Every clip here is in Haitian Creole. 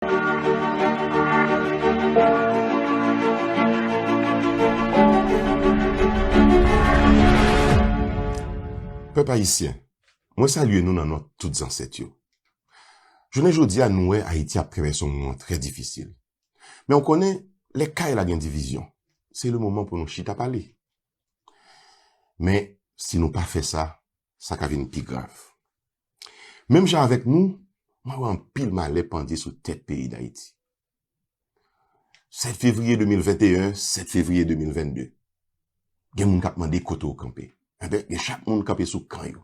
Pèp Ayisyen, mwen salye nou nan non tout zansèt yo. Jounen jodi a nou wè Ayiti ap travèse yon moman trè difisil. Men ou konnen, lè kay la gen divizyon, se le moman pou nou chita pale. Men, si nou pa fè sa, sa ka vin pi grav. Menm jan avèk nou, mwen wè anpil malè pandye sou tèt peyi Dayiti. 7 fevriye 2021, 7 fevriye 2022, gen moun k ap mande kote ou kanpe. Enben, gen chak moun kanpe sou kan yo.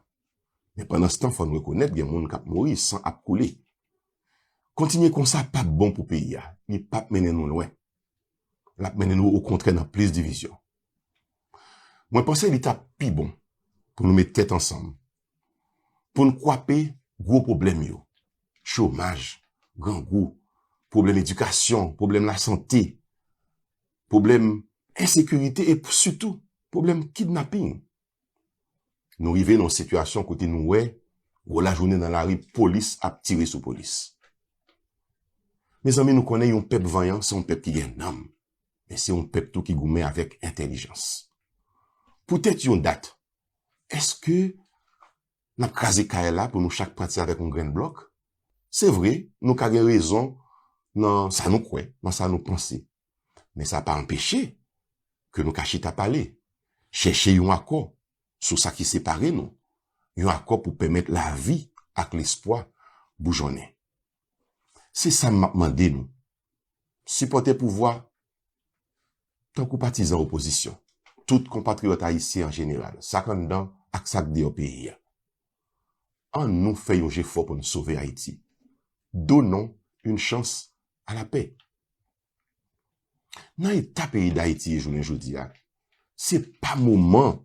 Men pandanstan, fò n rekonèt gen moun k ap mouri, san ap koule. Kontinye konsa p ap bon pou peyi a, li p ap mennen nou lwen. L ap mennen nou okontrè nan plis divizyon. Mwen panse li tap pi bon pou nou met tèt ansanm pou n kwape gwo pwoblèm yo, chomaj, grangou, pwoblèm edikasyon, pwoblèm lasante, pwoblèm ensekirite e sitou pwoblèm kidnaping. Nou rive nan yon sitiyasyon kote nou wè gwo lajounen nan lari polis ap tire sou polis. Mezanmi nou konnen yon pèp vanyan se yon pèp ki gen nanm, men se yon pèp tou ki goumen avèk entèlijans. Poutèt yon dat, èske n ap kraze kay la pou nou chak pati avèk yon grenn blòk? Se vre, nou ka gen rezon nan sa nou kwè, nan sa nou panse, men sa pa anpeche ke nou ka chita pale, chèche yon akò sou sa ki separe nou, yon akò pou pèmèt lavi ak lespwa boujonnen. Se sa m ap mande nou, sipòtè pouvwa tankou patizan opozisyon, tout konpatriyòt ayisyen an jeneral, sa k anndan ak sa k deyò peyi a. An nou fè yon jefò pou n sove Ayiti. Donnons une chance à la paix. Nan eta peyi Dayiti ye jounen jodi a, se pa moman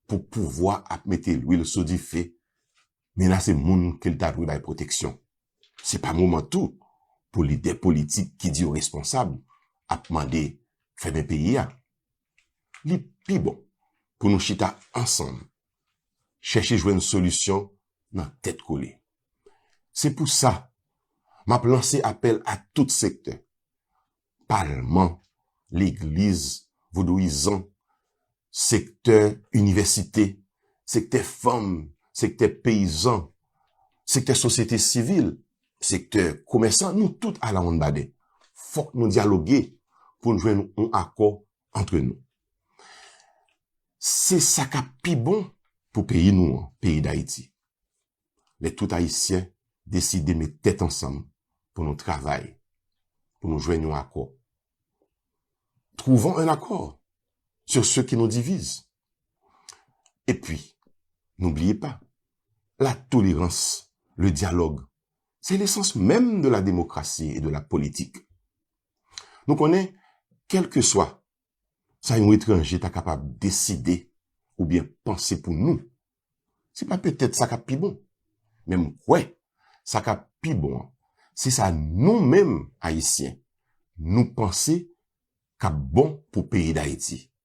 pou pouvwa ap mete lwil sou dife, menase moun ke l ta dwe bay pwoteksyon. Se pa moman tou pou lidè politik ki di yo responsab ap mande fèmen peyi a. Li pi bon pou nou chita ansanm chèche jwenn solisyon nan tèt kole. Se pou sa, m ap lanse apèl a tout sektè, palman, legliz, vodouyizan, sektè inivèsite, sektè fanm, sektè peyizan, sektè sosyete sivil, sektè komèsan, nou tout alawonnbadè, fòk nou dyaloge pou n jwenn yon akò antre nou. Se sa k ap pi bon pou peyi nou an, peyi Dayiti. Lè tout Ayisyen deside met tèt ansanm pou nou travay, pou nou jwenn yon akò. Trouvons un accord sur ce qui nous divise. E pi, nou bliye pa, la tolerans, le dialog, se lesans menm de la demokrasi e de la politik. Nou konnen, kèlkeswa sa yon etranje ta kapab deside oubyen panse pou nou, se pa petèt sa k ap pi bon. Men m kwè sa k ap pi bon an, se sa nou menm Ayisyen nou panse k ap bon pou peyi Dayiti.